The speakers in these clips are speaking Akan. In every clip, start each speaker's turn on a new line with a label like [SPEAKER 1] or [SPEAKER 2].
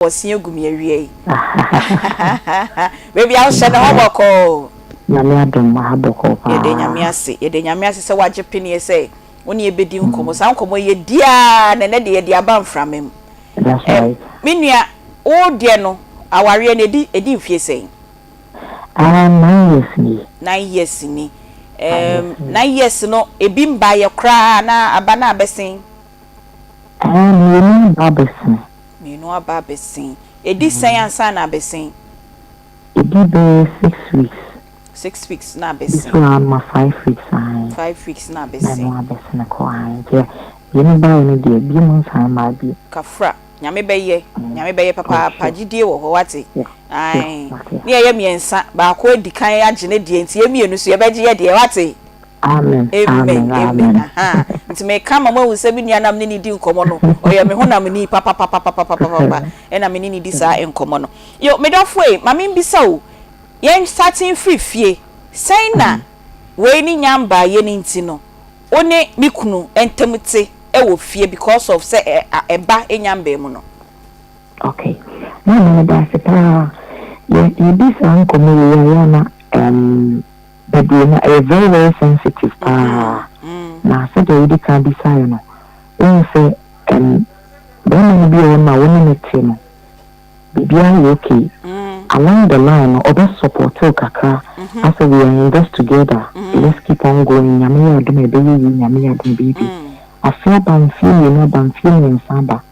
[SPEAKER 1] wɔsua gu me awia yi hahahahaha baby a wohyɛ ne ho bɔkɔɔ. Nyame adom
[SPEAKER 2] aha bɔkɔɔ paa. Yɛda Nyame ase yɛda Nyame
[SPEAKER 1] ase sɛ wagye peneɛ sɛ wo ne yɛ bɛdi nkɔmɔ saa nkɔmɔ yi yɛ di aa na ɛnɛ deɛ yɛde aba mframa mu ɛm
[SPEAKER 2] me nua
[SPEAKER 1] wo deɛ no awareɛ no ɛdi ɛdi mfie sɛn? Ah
[SPEAKER 2] nine years nie. Nine years ni
[SPEAKER 1] ɛm nine years no ɛbi mbaeɛ koraa anaa aba no a bɛsen? Ɛɛ, mmienu
[SPEAKER 2] aba abɛsen. Mmienu aba
[SPEAKER 1] abɛsen. Ɛdi sɛn ansa na abɛsen? Ɛdi
[SPEAKER 2] bɛyɛ six weeks. Six weeks
[SPEAKER 1] na abɛsen. Ɛdi so ara ma five
[SPEAKER 2] weeks ae. Five weeks na
[SPEAKER 1] abɛsen. Na ɛno
[SPEAKER 2] abɛsen kɔ ae. Nti mmienu baeɛ no deɛ, bio mu nsan mmaa bio. Kafra, Nyame
[SPEAKER 1] bɛyɛ, Nyame bɛyɛ papaapa, gyidie wɔ hɔ, woate? Ae. Ne yɛyɛ mmiɛnsa, baako adi kan agye ne deɛ nti yɛn mmienu nso yɛbɛgye yɛn deɛ, woate? Amen
[SPEAKER 2] amen amen
[SPEAKER 1] ahaa nti me ka ama mo ahu sɛ me nua na me ne ne di nkɔmɔ no ɔyɛ me honam ni papapapapapapapa ɛna me ne ne di saa nkɔmɔ no yo me dɔfo ei ma me mbisa o yɛn start mfiri fie sɛn na wei ne nya mbaa yɛ ne nti no wo ne me kunu ntɛm te ɛwɔ fie because of sɛ ɛba nya mbaa mu no. Ok
[SPEAKER 2] maame meda ase paa yɛ yɛ di saa nkɔmɔ wei a yɛ ana ɛɛm. Bebree no ɛyɛ very very sensitive paa na sɛdeɛ wode kan bisaeɛ no wohu sɛ ɛm barima no bi wɔ hɔ nom a wo ne no te no biribiara yɛ ok along the line no ɔbɛ support wo kakra asɛ we are in this together let's keep on going Nyame yɛ adom a ɛbɛyɛ yie Nyame yɛ adom a ɛbɛyɛ bi afe aba mfeɛ mmienu aba mfeɛ mmiɛnsa aba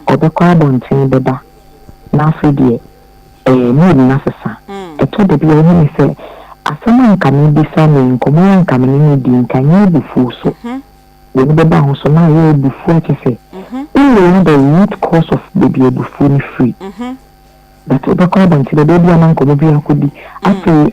[SPEAKER 2] Ɔbɛkɔ abɔnten bɛba, na afei deɛ ɛɛ mood no asesa. Ɛtɔ da bi a wohu me sɛ asɛm a anka merebisa no yi, nkɔmmɔ a anka me ne no redi yi, nka ɛnyɛ abufuo so. W'ani bɛba ho so na ayɛ abufuo a kyerɛ sɛ wo wura the root cause of baabi a abufuo no firi. But wobɛkɔ abɔnten bɛba, ebia na nkɔmmɔ bi akɔdi, afei.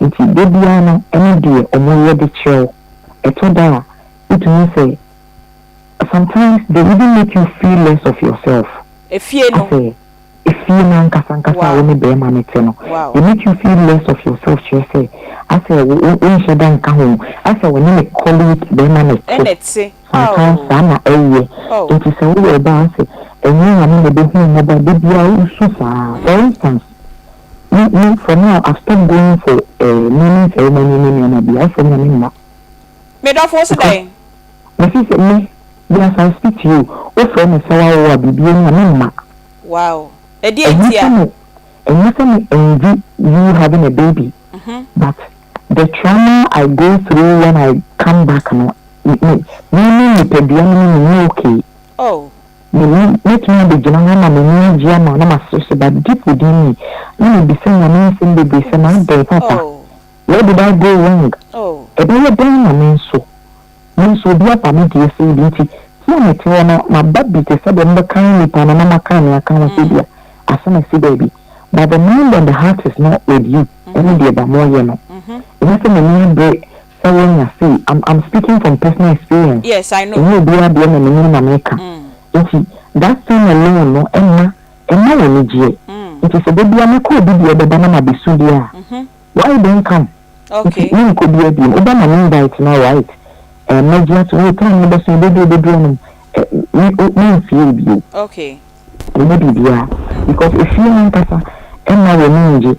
[SPEAKER 1] Ntsi da
[SPEAKER 2] biara no ɛno deɛ ɔmo yɛ de kyerɛ wo. Ɛtɔ da a wotumi sɛ sometimes they even make you feel less of yourself. Efie no. Asɛ
[SPEAKER 1] efie no
[SPEAKER 2] ankasa ankasa a wo ne bɛɛma no te no they make you feel less of yourself kyerɛ sɛ asɛ wo wo wonhyɛ da nka ho asɛ wo ne ne colleague bɛɛma na ɛte. Ɛna ɛte. Sometimes
[SPEAKER 1] saa na
[SPEAKER 2] ɛyɛ. Oh. Ntsi sɛ woyɛ ɔbaa asɛ ɛnyɛ nyame na ɛbɛhu wo mmɔbɔ a da biara wosu saa for instance Me, me, for now I've stopped going for eh, naming ceremony ne nneɛma bi, afei na me mma. Me dɔfo,
[SPEAKER 1] wo se Because, dɛn? me se sɛ me,
[SPEAKER 2] me as I speak to you, wo frɛ me sɛ w'awo a biribi ani a, me mma. Wow,
[SPEAKER 1] ɛdeɛ Ɛnyɛ nti sɛ a? me, ɛnyɛ sɛ me envy
[SPEAKER 2] you having a baby, Mhm. but the trauma I go through when I come back no, me, me, me, me nipadua no me, me nyɛ okay. Oh. Mene, mɛtumi abɛgyina hɔ ama m'ani agye ama wo na masere so, but deep within me, na mebisa Nyame nsɛm bebree sɛ, M'adɛn, Papa? Where did I go wrong? Ɛbɛyɛ dɛn na me nso, me nso obi aba me deɛ sei bi nti, me a mete hɔ no, maba bi te sɛ deɛ mobɛkan nnipa no na moakan me aka ho sɛ ebia asɛm asi baabi, but the mind and the heart is not with you, ɛne deɛ ba moyɛ no, ɛnyɛ sɛ m'ani abere, sɛ wonya sei am am speaking from personal experience Yes I know. ɛnyɛ obiara
[SPEAKER 1] deɛ na menim
[SPEAKER 2] na meka nti that thing alone no ɛmma ɛmma wo anigyeɛ nti sɛ dabia mɛkɔ obi deɛ bɛba na mabɛsu deɛ a why don't come nti Okay. menkɔ
[SPEAKER 1] biaa biom
[SPEAKER 2] wobɛma me invite no alright ɛɛ mɛgye atom oo time no bɛso ɛbɛduru ɛbɛduru anom ɛɛ me o menfie wo bio. Okay.
[SPEAKER 1] Wɔnyɛ biribiara
[SPEAKER 2] because efie no ankasa mma wɔn ani nnye.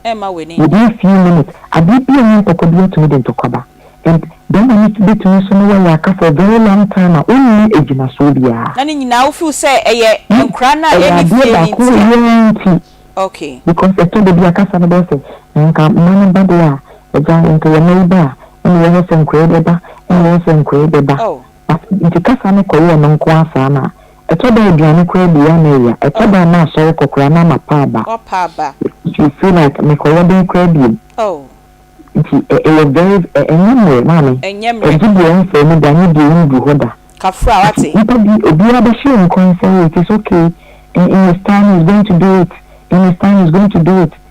[SPEAKER 2] Wɔdi a few minutes, adeɛ bi a ɛnyɛ ntɔkwa bi atumi de ntɔkwa ba and bɛrima no bɛtumi nso ne wɔ aka for very long time a ɔnni agyinasoɔ biara. Na ne nyinaa wo feel sɛ
[SPEAKER 1] ɛyɛ nkwadaa no a ɛyɛ ɛnni fie no nti a? Ɛyɛ adeɛ baako yi nti. Okay. Because ɛtɔ da bi a
[SPEAKER 2] kasa no bɛyɛ sɛ nka mma no ba deɛ a agya nka yɛn mma yi ba a ɛna ɛwɔ hɔ sɛ nkwadaa yi bɛba ɛna ɛwɔ hɔ sɛ nkwadaa yi bɛba. Oh. But nti kasa no kɔyɛ ɛno nko ara saa na Ɛtɔ da a aduane koraa bi a na ɛya. Ɛtɔ da a na asɔre kɔ koraa na ama pa aba. Nti you feel like mekɔ yɛ dɛn koraa biom. Nti ɛyɛ very ɛnyɛ mmerɛ maame. Ɛgye deɛ ɛmfaa mu da ne deɛ ɛndu hɔ da. Nti nipa
[SPEAKER 1] bi
[SPEAKER 2] obiara bɛhyɛ yɛn nkɔn sɛ oh it is okay in his time he is going to do it in his time he is going to do it.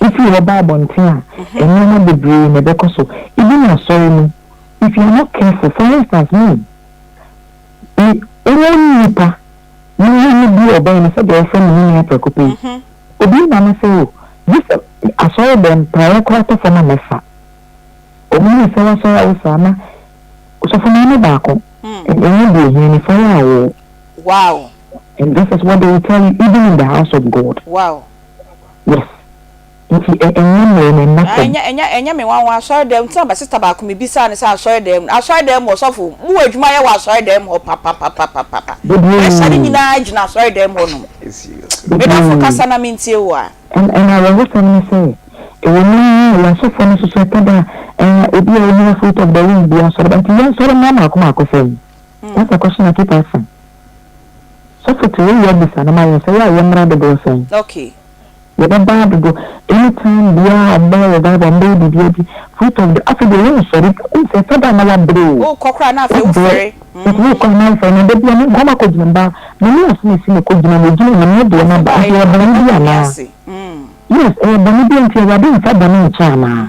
[SPEAKER 2] Wofii hɔ baa abɔnten a, nneɛma bebree na ɛbɛkɔ so. Even asɔre mu, if you are not careful, for instance, me, me, wo nipa, me wo ne bi ɔbɛn no sɛdeɛ wɔfrɛ me ne nua prɛko pɛ yi, obi ma me sɛ o, gye sɛ asɔre dɛm, praeɛ koraa tɔ fam a mɛfa. Ɔmo ne sɛ w'asɔre a wofiri ama sɔfo maa me baako, ɛnyɛ deɛ ohia me fa yɛ awoo. Wow.
[SPEAKER 1] And this is
[SPEAKER 2] what they will tell you even in the house of God. Wow. Yes nti ɛ ɛnyɛ mmrɛ me
[SPEAKER 1] mma fam. Ɛnyɛ ɛnyɛ ɛnyɛ me nwanwa asɔre dɛm tena bɛ sister baako me bisaa no sɛ asɔre dɛm no asɔre dɛm mu ɔsɔfo mo wɔ adwuma yɛ wɔ asɔre dɛm hɔ papapapapapa pressure no nyinaa gyina asɔre dɛm hɔ nom me dɔfo kasa na mentie wo a. Ɛna awerɛhosɛm
[SPEAKER 2] ne sɛ ɛwɔ mu yi yɛ asɔfoɔ no nso so ɛtɔ da a ɛɛ ebi a ɔnyina fruit of the womb biara sɔre ba nti yɛnsɔre mmra mmaako mmaako fam that's the question I keep asking. Sɔfo te wo yɛ bisa no ma yɛn sɛ yɛ a yɛ mmra dodoɔ sɛn? Okay.
[SPEAKER 1] Yɛ bɛ baa
[SPEAKER 2] dodo any time biaa ɔmo bɛyɛ revival ɔmo bɛyɛ biribiaa bi free talk de afei deɛ yɛ nsɔre bio wohu sɛ ɛtɔ da a na wa brɛ oo Wo kɔ koraa na afei
[SPEAKER 1] wo ɛdeɛ fɛre mm. Wo kɔ a na wo
[SPEAKER 2] fɛre na dabiaa me nkɔ ma kɔ gyina baa me ne yɛ so na ɛsi me kɔ gyina me gyina nyame deɛ na ba Afei nti ɛyɛ baa yɛ bɔne bɛda bi nyame anaa ase mm. Yes ɛyɛ bɔne bi nti awurade nfa bɔne nkyɛ anaa.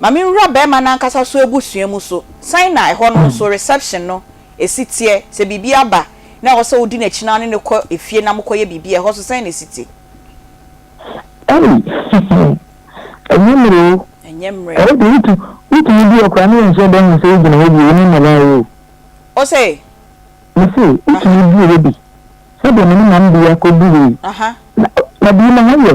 [SPEAKER 1] Ma me nwura bɛɛma no ankasa so abusua mu so sɛn na ɛhɔ no nso reception no ɛsi teɛ sɛ biribi aba na ɛwɔ sɛ wodi nakyi na wone no kɔ ɛfie na mo kɔ yɛ biribi a ɛhɔ so sɛn na ɛsi te. Ei ɛnyɛ mmerɛ oo. Ɛnyɛ mmerɛ. Ɛyɛ de wotu
[SPEAKER 2] wotumi di hɔ koraa ne yɛnhyɛ da nhu sɛ wogyina hɔ bio ne mmara oo. Ose.
[SPEAKER 1] Me se
[SPEAKER 2] wotumi di hɔ bi sɛdeɛ me ne Mambia kɔ durii na na bii na hɔ yɛ.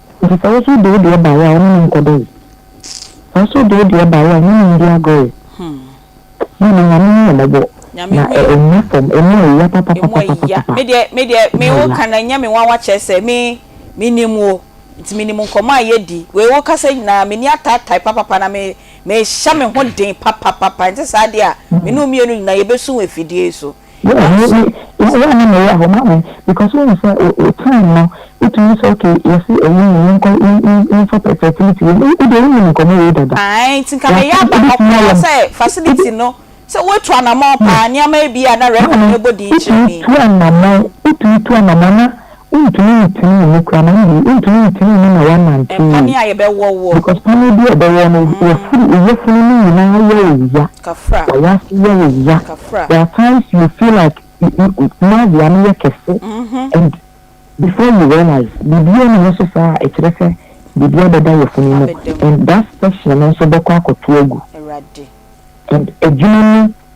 [SPEAKER 2] Enti sɛ wo so de wo deɛ baeɛ a, wo ne no nkɔdɔ yi. Sɛ wo so de wo deɛ baeɛ a, wo ne no ndi agorɔ yi. Hii na Nyame hu yɛ mmɔbɔ,
[SPEAKER 1] na ɛnnya fam, emu ayia papapapapapa. Me deɛ me wo ka no ɛnyɛ me nwanwa kyerɛ sɛ me me nim wo nti me nim nkɔmɔ a yɛ di wei wo kasa nyinaa me ni ataatae papapa na me me hyɛ me ho den papapapa ɛnte saa deɛ a me ne wo mmienu nyinaa yɛ bɛ su wɔ afidie yi so.
[SPEAKER 2] Yeah me me yeah yeah me meyɛ ahoma me because wohu sɛ wo wo time no wotumi sɛ okay yɛse ɛyɛ ni yɛnkɔ yɛn yɛn yɛnfa fɛ fertility wei wo deɛ wonim nkɔmmɔ wei dada Ae nti nka meyɛ yɛse
[SPEAKER 1] aba wobɛtumi ɔpɛ ayɛ sɛ facility wobɛ no sɛ woatu anamɔn paa nneɛma bi a na record maame no bɔ din kyerɛ wotumi me. tu anamɔn
[SPEAKER 2] wotumi tu anamɔn na. Wontumi ntenee mu koraa na ɛnde wontumi ntenee mu na wɔanante Ɛmfa ne a yɛbɛwɔ
[SPEAKER 1] woɔ. because paneɛ bi a ɛbɛwɔ
[SPEAKER 2] no yafuru yafunu no nyinaa yɛ wo ya, Kafra, wayɛ ase
[SPEAKER 1] yɛ wo ya,
[SPEAKER 2] kafra. there
[SPEAKER 1] are times you
[SPEAKER 2] feel like nausea no yɛ kɛse and before you realize biribiara nni hɔ so saa a ɛkyerɛ sɛ biribi abɛda yafunu mu Abɛda mu. and that section no nso bɛkɔ akɔto agu Awurade.
[SPEAKER 1] and
[SPEAKER 2] adwuma no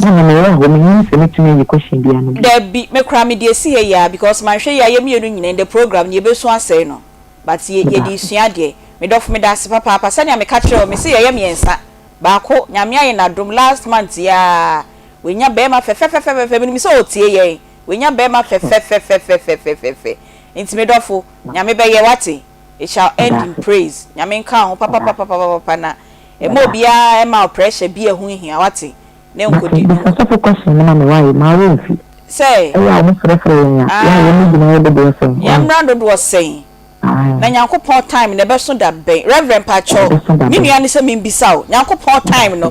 [SPEAKER 1] Mama meyɛ ahɔ mennim sɛ mɛtumi ayi question biaa no bio. Dabi me koraa mede asi ha yi aa because manhwɛ yɛ a yɛ mmienu nyinaa ndɛ program no yɛbɛsu asɛe no but yɛ yɛde resua adeɛ me dɔfo medase papaapa sɛnea meka kyerɛɛ wo mese yɛyɛ mmiɛnsa baako Nyame ayɛ no adom last month yi aa wanya bɛɛma fɛfɛfɛfɛfɛ menim sɛ ɔretie yɛn wanya bɛɛma fɛfɛfɛfɛfɛfɛfɛfɛ nti me dɔfo Nyame bɛyɛ wate it shall end in praise Nyame nka wo ho papapapapapapa na Ɛmma obiara ɛmma wo pressure bi a ɛho nhia, wate, ne nkɔdi dwuma. Meka
[SPEAKER 2] sɛ fokɔ hyɛ no ma me wae, maa wo mfi. Sɛ. Ɛyɛ a
[SPEAKER 1] wɔfrɛfrɛ
[SPEAKER 2] yɛn a, yɛ a yɛn mu gyina yɛ dodoɔ sɛn,
[SPEAKER 1] wae. Yɛn mmra dodoɔ sɛn. Ae. Na Nyankopɔn time no ɛbɛso da bɛn? Reverend mpakyɛw, me nua ne sɛ membisa wo, Nyankopɔn time no,